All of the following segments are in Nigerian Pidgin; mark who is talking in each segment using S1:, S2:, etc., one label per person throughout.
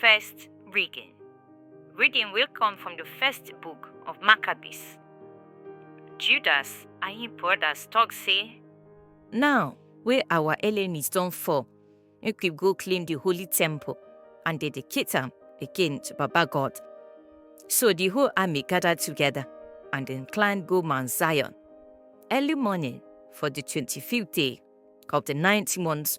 S1: First reading. Reading will come from the first book of Maccabees. Judas and him brothers talk say, Now wey our enemies don fall, make we go clean the holy temple and dedicate am again to Baba God. So the whole army gathered together and then climbed go Mount Zion. Early morning for the 25th day of the ninth month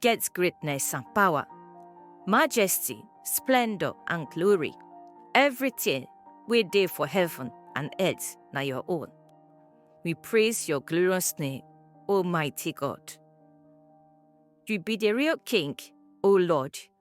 S1: get greatness and power, majesty, splendor and glory. Everything we dey for heaven and earth na your own. We praise your glorious name, Almighty God. You be the real King, O Lord,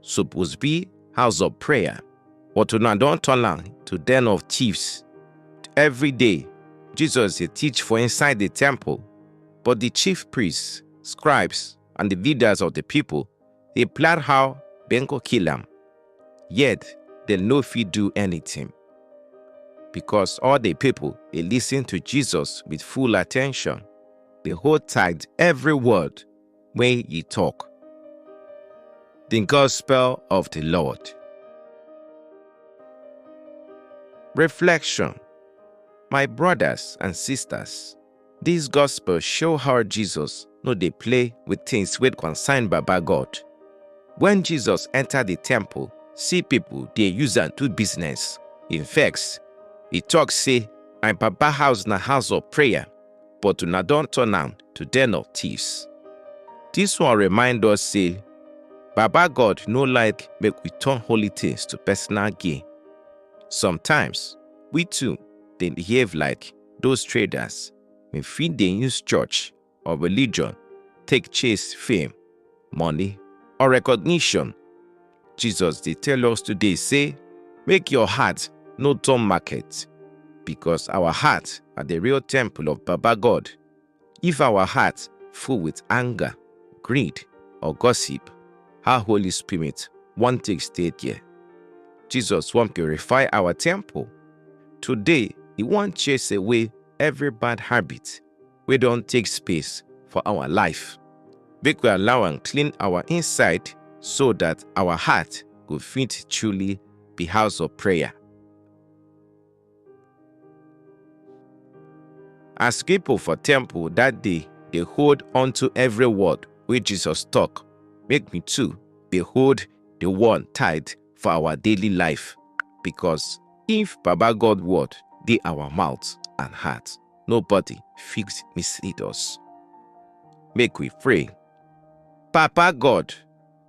S1: suppose be house of prayer but una don turn am to den of thieves every day jesus dey teach for inside the temple but the chief priests scribes and the leaders of the people dey plan how dem go kill am yet dem no fit do anything because all the people dey listen to jesus with full attention dey hold tight every word wey e tok. Di Gospel of di Lord. Reflection My brothers and sisters, dis Gospel show how Jesus no dey play with things wey concern Baba God. Wen Jesus enter di temple, see people dey use am do business, e vex. E talk say, My Papa house na house of prayer, but una don turn am to den of thieves. Dis one remind us say Baba God no like make we turn holy things to personal gain. Sometimes, we too dey behave like those traders wey fit dey use church or religion take chase fame, money or recognition Jesus dey tell us today say make your heart no turn market because our heart are the real temple of Baba God. If our heart full with anger, greed or gossip, how Holy Spirit wan take stay there? Jesus wan purify our temple. Today, he wan chase away every bad habit wey don take space for our life. Make we allow am clean our inside so that our heart go fit truly be house of prayer. As people for temple that day dey hold unto every word wey Jesus talk, make we too dey hold the one tight for our daily life because if Baba God word dey our mouth and heart. nobody fit mislead us. Make we pray. Papa God,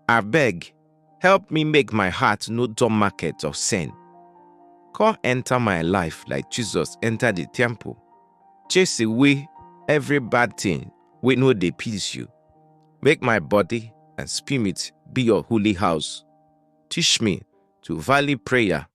S1: I beg, help me make my heart no dumb market of sin. Come enter my life like Jesus enter the temple. Chase away every bad thing we know they please you. Make my body and spirit be your holy house. Teach me to value prayer